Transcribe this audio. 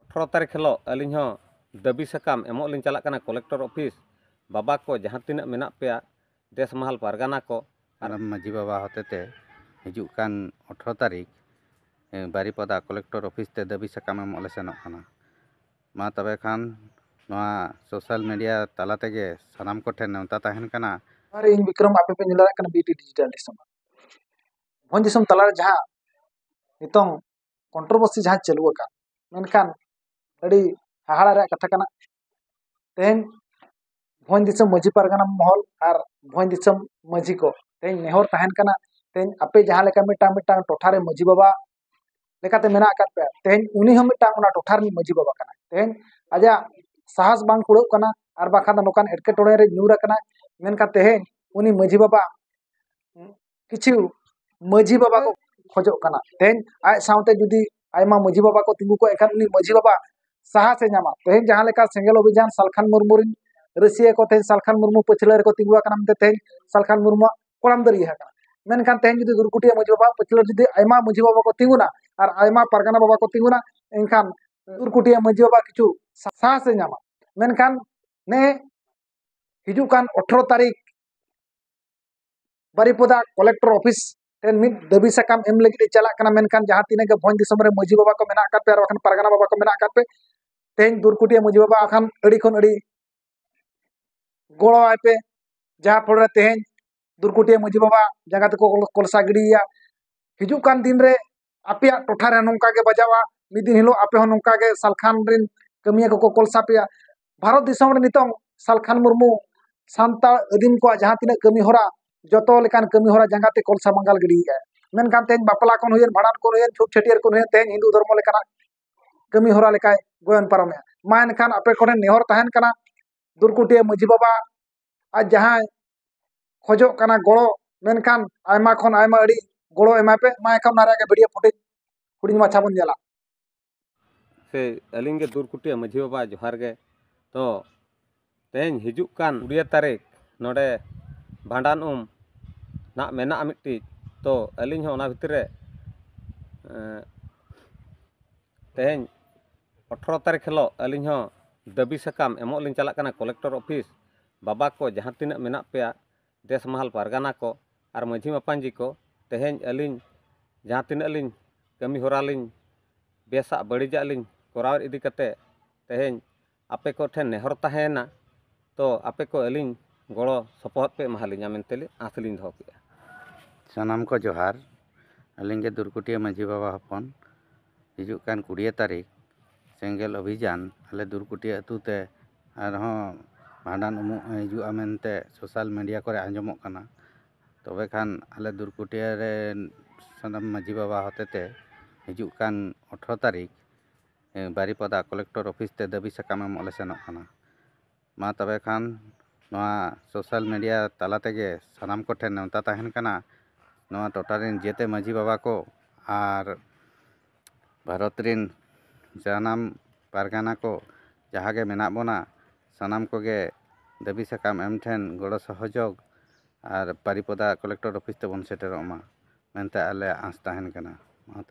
ᱟᱴᱷᱨᱚ ᱛᱟᱹᱨᱤᱠᱷ ᱦᱤᱞᱳᱜ ᱟᱹᱞᱤᱧ ᱦᱚᱸ ᱫᱟᱹᱵᱤ ᱥᱟᱠᱟᱢ ᱮᱢᱚᱜ ᱞᱤᱧ ᱪᱟᱞᱟᱜ ᱠᱟᱱᱟ ᱠᱚᱞᱮᱠᱴᱚᱨ ᱚᱯᱷᱤᱥ ᱵᱟᱵᱟ ᱠᱚ ᱡᱟᱦᱟᱸ ᱛᱤᱱᱟᱹᱜ ᱢᱮᱱᱟᱜ ᱯᱮᱭᱟ ᱫᱮᱥ ᱢᱟᱦᱟᱞ ᱯᱟᱨᱜᱟᱱᱟ ᱠᱚ ᱟᱨ ᱢᱟᱹᱡᱷᱤ ᱵᱟᱵᱟ ᱦᱚᱛᱮᱛᱮ ᱦᱤᱡᱩᱜ ᱠᱟᱱ ᱟᱴᱷᱨᱚ ᱛᱟᱹᱨᱤᱠᱷ ᱵᱟᱨᱤᱯᱟᱫᱟ ᱠᱚᱞᱮᱠᱴᱚᱨ ᱚᱯᱷᱤᱥ ᱛᱮ ᱫᱟᱹᱵᱤ ᱥᱟᱠᱟᱢ ᱮᱢᱚᱜ ᱞᱮ ᱥᱮᱱᱚᱜ ᱠᱟᱱᱟ ᱢᱟ ᱛᱚᱵᱮ ᱠᱷᱟᱱ ᱱᱚᱣᱟ ᱥᱳᱥᱟᱞ ᱢᱤᱰᱤᱭᱟ ᱛᱟᱞᱟ ᱛᱮᱜᱮ ᱥᱟᱱᱟᱢ ᱠᱚᱴᱷᱮᱱ ᱱᱮᱣᱛᱟ ᱛᱟᱦᱮᱱ ᱠᱟᱱᱟ ᱟᱨ ᱤᱧ ᱵᱤᱠᱨᱚᱢ ᱟᱯᱮ ᱯᱮ ᱧᱮᱞ ᱫᱟᱲᱮᱭᱟᱜ ᱠᱟᱱᱟ ᱵᱤᱴᱤ ᱰᱤᱡᱤᱴᱟᱞ ᱫᱤᱥᱚᱢ ᱵᱷᱚᱸᱡᱽ ᱫᱤᱥᱚᱢ ᱛᱟᱞᱟᱨᱮ ᱡᱟᱦᱟᱸ ᱱᱤᱛᱚᱝ ᱠᱚᱱᱴᱨᱳᱵᱷᱟᱨᱥᱤ ᱡᱟᱦᱟᱸ ᱪᱟᱹᱞᱩ ᱟᱠᱟᱱ ᱢᱮᱱᱠᱷᱟᱱ ᱟᱹᱰᱤ ᱦᱟᱦᱟᱲᱟ ᱨᱮᱭᱟᱜ ᱠᱟᱛᱷᱟ ᱠᱟᱱᱟ ᱛᱮᱦᱮᱧ ᱵᱷᱚᱸᱡᱽ ᱫᱤᱥᱚᱢ ᱢᱟᱹᱡᱷᱤ ᱯᱟᱨᱜᱟᱱᱟ ᱢᱚᱦᱚᱞ ᱟᱨ ᱵᱷᱚᱸᱡᱽ ᱫᱤᱥᱚᱢ ᱢᱟᱹᱡᱷᱤ ᱠᱚ ᱛᱮᱦᱮᱧ ᱱᱮᱦᱚᱨ ᱛᱟᱦᱮᱱ ᱠᱟᱱᱟ ᱛᱮᱦᱮᱧ ᱟᱯᱮ ᱡᱟᱦᱟᱸ ᱞᱮᱠᱟ ᱢᱤᱫᱴᱟᱝ ᱢᱤᱫᱴᱟᱝ ᱴᱚᱴᱷᱟ ᱨᱮ ᱢᱟᱹᱡᱷᱤ ᱵᱟᱵᱟ ᱞᱮᱠᱟᱛᱮ ᱢᱮᱱᱟᱜ ᱟᱠᱟᱫ ᱯᱮᱭᱟ ᱛᱮᱦᱮᱧ ᱩᱱᱤ ᱦᱚᱸ ᱢᱤᱫᱴᱟᱝ ᱚᱱᱟ ᱴᱚᱴᱷᱟ ᱨᱤᱱᱤᱡ ᱢᱟᱹᱡᱷᱤ ᱵᱟᱵᱟ ᱠᱟᱱᱟ ᱛᱮᱦᱮᱧ ᱟᱡᱟᱜ ᱥᱟᱦᱟᱥ ᱵᱟᱝ ᱠᱩᱲᱟᱹᱜ ᱠᱟᱱᱟ ᱟᱨ ᱵᱟᱠᱷᱟᱱ ᱫᱚ ᱱᱚᱝᱠᱟᱱ ᱮᱴᱠᱮᱴᱚᱬᱮ ᱨᱮ ᱧᱩᱨ ᱟᱠᱟᱱᱟ ᱢᱮᱱᱠᱷᱟᱱ ᱛᱮᱦᱮᱧ ᱩᱱᱤ ᱢᱟᱹᱡᱷᱤ ᱵᱟᱵᱟ ᱠᱤᱪᱷᱩ ᱢᱟᱹᱡᱷᱤ ᱵᱟᱵᱟ ᱠᱚ ᱠᱷᱚᱡᱚᱜ ᱠᱟᱱᱟ ᱛᱮᱦᱮᱧ ᱟᱡ ᱥᱟᱶᱛᱮ ᱡᱩᱫᱤ ᱟᱭᱢᱟ ᱢᱟᱹᱡᱷᱤ ᱵᱟᱵᱟ ᱠᱚ ᱛᱤᱸᱜᱩ ᱠᱚᱜ ᱮᱱᱠᱷᱟᱱ ᱩᱱᱤ ᱢᱟᱹᱡᱷᱤ ᱵᱟᱵᱟ ᱥᱟᱦᱟᱥᱮ ᱧᱟᱢᱟ ᱛᱮᱦᱮᱧ ᱡᱟᱦᱟᱸ ᱞᱮᱠᱟ ᱥᱮᱸᱜᱮᱞ ᱚᱵᱷᱤᱡᱟᱱ ᱥᱟᱞᱠᱷᱟᱱ ᱢᱩᱨᱢᱩ ᱨᱤᱱ ᱨᱟᱹᱥᱭᱟᱹ ᱠᱚ ᱛᱮᱦᱮᱧ ᱥᱟᱞᱠᱷᱟᱱ ᱢᱩᱨᱢᱩ ᱯᱟᱹᱪᱷᱞᱟᱹ ᱨᱮᱠᱚ ᱛᱤᱸᱜᱩ ᱟᱠᱟᱱᱟ ᱢᱮᱱᱛᱮ ᱛᱮᱦᱮᱧ ᱥᱟᱞᱠᱷᱟᱱ ᱢᱩᱨᱢᱩᱣᱟᱜ ᱠᱚᱲᱟᱢ ᱫᱟᱨᱮ ᱟᱠᱟᱱᱟ ᱢᱮᱱᱠᱷᱟᱱ ᱛᱮᱦᱮᱧ ᱡᱩᱫᱤ ᱜᱩᱨᱠᱩᱴᱤᱭᱟᱹ ᱢᱟᱹᱡᱷᱤ ᱵᱟᱵᱟ ᱯᱟᱹᱪᱷᱞᱟᱹ ᱡᱩᱫᱤ ᱟᱭᱢᱟ ᱢᱟᱹᱡᱷᱤ ᱵᱟᱵᱟ ᱠᱚ ᱛᱤᱸᱜᱩᱱᱟ ᱟᱨ ᱟᱭᱢᱟ ᱯᱟᱨᱜᱟᱱᱟ ᱵᱟᱵᱟ ᱠᱚ ᱛᱤᱸᱜᱩᱱᱟ ᱮᱱᱠᱷᱟᱱ ᱜᱩᱨᱠᱩᱴᱤᱭᱟᱹ ᱢᱟᱹᱡᱷᱤ ᱵᱟᱵᱟ ᱠᱤᱪᱷᱩ ᱥᱟᱦᱟᱥᱮ ᱧᱟᱢᱟ ᱢᱮᱱᱠᱷᱟᱱ ᱱᱮ ᱦᱤᱡᱩᱜ ᱠᱟᱱ ᱚᱴᱷᱨᱚ ᱛᱟᱹᱨᱤᱠᱷ ᱵᱟᱨᱤᱯᱚᱫᱟ ᱠᱚᱞᱮᱠᱴᱚᱨ ᱚᱯᱷᱤᱥ ᱴᱷᱮᱱ ᱢᱤᱫ ᱫᱟᱹᱵᱤ ᱥᱟᱠᱟᱢ ᱮᱢ ᱞᱟᱹᱜᱤᱫ ᱮ ᱪᱟᱞᱟᱜ ᱠᱟᱱᱟ ᱢᱮᱱᱠᱷᱟᱱ ᱡᱟᱦᱟᱸ ᱛᱤᱱᱟᱹᱜ ᱜᱮ ᱵᱷᱚᱸᱡᱽ ᱫᱤᱥᱚᱢ ᱨᱮ ᱢᱟᱹᱡᱷᱤ ᱵᱟᱵᱟ ᱠᱚ ᱢᱮᱱᱟᱜ ᱟᱠᱟᱫ ᱯᱮ ᱟᱨ ᱵᱟᱠᱷᱟᱱ ᱯᱟᱨᱜᱟᱱᱟ ᱵᱟᱵᱟ ᱠᱚ ᱢᱮᱱᱟᱜ ᱟᱠᱟᱫ ᱯᱮ ᱛᱮᱦᱮᱧ ᱫᱩᱨᱠᱩᱴᱤᱭᱟᱹ ᱢᱟᱹᱡᱷᱤ ᱵᱟᱵᱟ ᱟᱠᱷᱟᱱ ᱟᱹᱰᱤ ᱠᱷᱚᱱ ᱟᱹᱰᱤ ᱜᱚᱲᱚᱣᱟᱭ ᱯᱮ ᱡᱟᱦᱟᱸ ᱯᱷᱚᱞ ᱨᱮ ᱛᱮᱦᱮᱧ ᱫᱩᱨᱠᱩᱴᱤᱭᱟᱹ ᱢᱟᱹᱡᱷᱤ ᱵᱟᱵᱟ ᱡᱟᱸᱜᱟ ᱛᱮᱠᱚ ᱠᱚᱞᱥᱟ ᱜᱤᱰᱤᱭᱮᱭᱟ ᱦᱤᱡᱩᱜ ᱠᱟᱱ ᱫᱤᱱ ᱨᱮ ᱟᱯᱮᱭᱟᱜ ᱴᱚᱴᱷᱟ ᱨᱮ ᱱᱚᱝᱠᱟ ᱜᱮ ᱵᱟᱡᱟᱣᱟ ᱢᱤᱫ ᱫᱤᱱ ᱦᱤᱞᱳᱜ ᱟᱯᱮ ᱦᱚᱸ ᱱᱚᱝᱠᱟ ᱜᱮ ᱥᱟᱞᱠᱷᱟᱱ ᱨᱮᱱ ᱠᱟᱹᱢᱤᱭᱟᱹ ᱠᱚᱠᱚ ᱠᱳᱞ ᱥᱟᱯᱮᱭᱟ ᱵᱷᱟᱨᱚᱛ ᱫᱤᱥᱚᱢ ᱨᱮ ᱱᱤᱛᱚᱝ ᱥᱟᱞᱠᱷᱟᱱ ᱢᱩᱨᱢᱩ ᱥᱟᱱᱛᱟᱲ ᱟᱹᱫᱤᱢ ᱠᱚᱣᱟᱜ ᱡᱟᱦᱟᱸ ᱛᱤᱱᱟᱹᱜ ᱠᱟᱹᱢᱤ ᱦᱚᱨᱟ ᱡᱚᱛᱚ ᱞᱮᱠᱟᱱ ᱠᱟᱹᱢᱤ ᱦᱚᱨᱟ ᱡᱟᱸᱜᱟ ᱛᱮ ᱠᱳᱞ ᱥᱟᱢᱟᱝᱜᱟᱞ ᱜᱤᱰᱤᱭᱮᱫᱟᱭ ᱢᱮᱱᱠᱷᱟᱱ ᱛᱮᱦᱮᱧ ᱵᱟᱯᱞᱟ ᱠᱷᱚᱱ ᱦᱩᱭᱮᱱ ᱵᱷᱟᱸᱰᱟᱱ ᱠᱷᱚᱱ ᱦᱩᱭᱮᱱ ᱪᱷᱩᱛ ᱪᱷᱟᱹᱴᱭᱟᱹᱨ ᱠᱷᱚᱱ ᱦᱩᱭᱮᱱ ᱛᱮᱦᱮᱧ ᱦᱤᱱᱫᱩ ᱫᱷᱚᱨᱢᱚ ᱞᱮᱠᱟᱱᱟᱜ ᱠᱟᱹᱢᱤ ᱦᱚᱨᱟ ᱞᱮᱠᱟᱭ ᱜᱚᱭᱚᱱ ᱯᱟᱨᱚᱢᱮᱫᱼᱟ ᱢᱟ ᱮᱱᱠᱷᱟᱱ ᱟᱯᱮ ᱠᱚᱴᱷᱮᱱ ᱱᱮᱦᱚᱨ ᱛᱟᱦᱮᱱ ᱠᱟᱱᱟ ᱫᱩᱨᱠᱩᱴᱤᱭᱟᱹ ᱢᱟᱹᱡᱷᱤ ᱵᱟᱵᱟ ᱟᱡ ᱡᱟᱦᱟᱸᱭ ᱠᱷᱚᱡᱚᱜ ᱠᱟᱱᱟ ᱜᱚᱲᱚ ᱢᱮᱱᱠᱷᱟᱱ ᱟᱭᱢᱟ ᱠᱷᱚᱱ ᱟᱭᱢᱟ ᱟᱹᱰᱤ ᱜᱚᱲᱚ ᱮᱢᱟᱭ ᱯᱮ ᱢᱟ ᱮᱱᱠᱷᱟᱱ ᱚᱱᱟ ᱨᱮᱭᱟᱜ ᱜᱮ ᱵᱷᱤᱰᱤᱭᱳ ᱯᱷᱩᱴᱮᱡᱽ ᱦᱩᱰᱤᱧ ᱢᱟᱪᱷᱟ ᱵᱚᱱ ᱧᱮᱞᱟ ᱥᱮ ᱟᱹᱞᱤᱧ ᱜᱮ ᱫᱩᱨᱠᱩᱴᱤᱭᱟᱹ ᱢᱟᱹᱡᱷᱤ ᱵᱟᱵᱟ ᱡᱚᱦᱟᱨ ᱜᱮ ᱛᱚ ᱛᱮᱦᱮᱧ ᱦᱤᱡᱩᱜ ᱠᱟᱱ ᱠᱩᱲᱤᱭᱟᱹ ᱛᱟᱹᱨᱤᱠᱷ ᱱᱚᱰᱮ ᱵᱷᱟᱸᱰᱟᱱ ᱩᱢ ᱱᱟᱜ ᱢᱮᱱᱟᱜᱼᱟ ᱢᱤᱫᱴᱤᱡ ᱛᱚ ᱟᱹᱞᱤᱧ ᱦᱚᱸ ᱚᱱᱟ ᱵᱷᱤᱛᱨᱤ ᱨᱮ ᱛᱮᱦᱮᱧ ᱟᱴᱷᱨᱚ ᱛᱟᱹᱨᱤᱠᱷ ᱦᱤᱞᱳᱜ ᱟᱹᱞᱤᱧ ᱦᱚᱸ ᱫᱟᱹᱵᱤ ᱥᱟᱠᱟᱢ ᱮᱢᱚᱜ ᱞᱤᱧ ᱪᱟᱞᱟᱜ ᱠᱟᱱᱟ ᱠᱚᱞᱮᱠᱴᱚᱨ ᱚᱯᱷᱤᱥ ᱵᱟᱵᱟ ᱠᱚ ᱡᱟᱦᱟᱸ ᱛᱤᱱᱟᱹᱜ ᱢᱮᱱᱟᱜ ᱯᱮᱭᱟ ᱫᱮᱥ ᱢᱟᱦᱟᱞ ᱯᱟᱨᱜᱟᱱᱟ ᱠᱚ ᱟᱨ ᱢᱟᱹᱡᱷᱤ ᱢᱟᱯᱟᱡᱤ ᱠᱚ ᱛᱮᱦᱮᱧ ᱟᱹᱞᱤᱧ ᱡᱟᱦᱟᱸ ᱛᱤᱱᱟᱹᱜ ᱞᱤᱧ ᱠᱟᱹᱢᱤ ᱦᱚᱨᱟ ᱞᱤᱧ ᱵᱮᱥᱟᱜ ᱵᱟᱹᱲᱤᱡᱟᱜ ᱞᱤᱧ ᱠᱚᱨᱟᱣ ᱤᱫᱤ ᱠᱟᱛᱮᱫ ᱛᱮᱦᱮᱧ ᱟᱯᱮ ᱠᱚᱴᱷᱮᱱ ᱱᱮᱦᱚᱨ ᱛᱟᱦᱮᱸᱭᱮᱱᱟ ᱛᱚ ᱟᱯᱮ ᱠᱚ ᱟᱹᱞᱤᱧ ᱜᱚᱲᱚ ᱥᱚᱯᱚᱦᱚᱫ ᱯᱮ ᱮᱢᱟ ᱟᱹᱞᱤᱧᱟ ᱢᱮᱱᱛᱮ ᱞᱮ ᱟᱥ ᱞᱤᱧ ᱫᱚᱦᱚ ᱠᱮᱜᱼᱟ ᱥᱟᱱᱟᱢ ᱠᱚ ᱡᱚᱦᱟᱨ ᱟᱹᱞᱤᱧ ᱜᱮ ᱫᱩᱨᱠᱩᱴᱤᱭᱟᱹ ᱢᱟᱹᱡᱷᱤ ᱵᱟᱵᱟ ᱦᱚᱯᱚᱱ ᱦᱤᱡᱩᱜ ᱠᱟᱱ ᱠᱩᱲᱤᱭᱟᱹ ᱛᱟᱹᱨᱤᱠᱷ ᱥᱮᱸᱜᱮᱞ ᱚᱵᱷᱤᱡᱟᱱ ᱟᱞᱮ ᱫᱩᱨᱠᱩᱴᱤᱭᱟᱹ ᱟᱹᱛᱩ ᱛᱮ ᱟᱨᱦᱚᱸ ᱵᱷᱟᱸᱰᱟᱱ ᱩᱢᱩᱜ ᱦᱤᱡᱩᱜᱼᱟ ᱢᱮᱱᱛᱮ ᱥᱳᱥᱟᱞ ᱢᱤᱰᱤᱭᱟ ᱠᱚᱨᱮ ᱟᱸᱡᱚᱢᱚᱜ ᱠᱟᱱᱟ ᱛᱚᱵᱮ ᱠᱷᱟᱱ ᱟᱞᱮ ᱫᱩᱨᱠᱩᱴᱤᱭᱟᱹ ᱨᱮᱱ ᱥᱟᱱᱟᱢ ᱢᱟᱹᱡᱷᱤ ᱵᱟᱵᱟ ᱦᱚᱛᱮᱛᱮ ᱦᱤᱡᱩᱜ ᱠᱟᱱ ᱟᱴᱷᱨᱚ ᱛᱟᱹᱨᱤᱠᱷ ᱵᱟᱨᱤᱯᱟᱫᱟ ᱠᱚᱞᱮᱠᱴᱚᱨ ᱚᱯᱷᱤᱥ ᱛᱮ ᱫᱟᱹᱵᱤ ᱥᱟᱠᱟᱢ ᱮᱢᱚᱜ ᱞᱮ ᱥᱮᱱᱚᱜ ᱠᱟᱱᱟ ᱢᱟ ᱛᱚᱵᱮ ᱠᱷᱟᱱ ᱱᱚᱣᱟ ᱥᱳᱥᱟᱞ ᱢᱤᱰᱤᱭᱟ ᱛᱟᱞᱟ ᱛᱮᱜᱮ ᱥᱟᱱᱟᱢ ᱠᱚᱴᱷᱮᱱ ᱱᱮᱣᱛᱟ ᱛᱟᱦᱮᱱ ᱠᱟᱱᱟ ᱱᱚᱣᱟ ᱴᱚᱴᱷᱟ ᱨᱮᱱ ᱡᱮᱛᱮ ᱢᱟᱺᱡᱷᱤ ᱵᱟᱵᱟ ᱠᱚ ᱟᱨ ᱵᱷᱟᱨᱚᱛ ᱨᱮᱱ ᱥᱟᱱᱟᱢ ᱯᱟᱨᱜᱟᱱᱟ ᱠᱚ ᱡᱟᱦᱟᱸ ᱜᱮ ᱢᱮᱱᱟᱜ ᱵᱚᱱᱟ ᱥᱟᱱᱟᱢ ᱠᱚᱜᱮ ᱫᱟᱹᱵᱤ ᱥᱟᱠᱟᱢ ᱮᱢ ᱴᱷᱮᱱ ᱜᱚᱲᱚ ᱥᱚᱦᱚᱡᱳᱜᱽ ᱟᱨ ᱵᱟᱨᱤᱯᱟᱫᱟ ᱠᱚᱞᱮᱠᱴᱚᱨ ᱚᱯᱷᱤᱥ ᱛᱮᱵᱚᱱ ᱥᱮᱴᱮᱨᱚᱜ ᱢᱟ ᱢᱮᱱᱛᱮ ᱟᱞᱮᱭᱟᱜ ᱟᱸᱥ ᱛᱟᱦᱮᱱ ᱠᱟᱱᱟ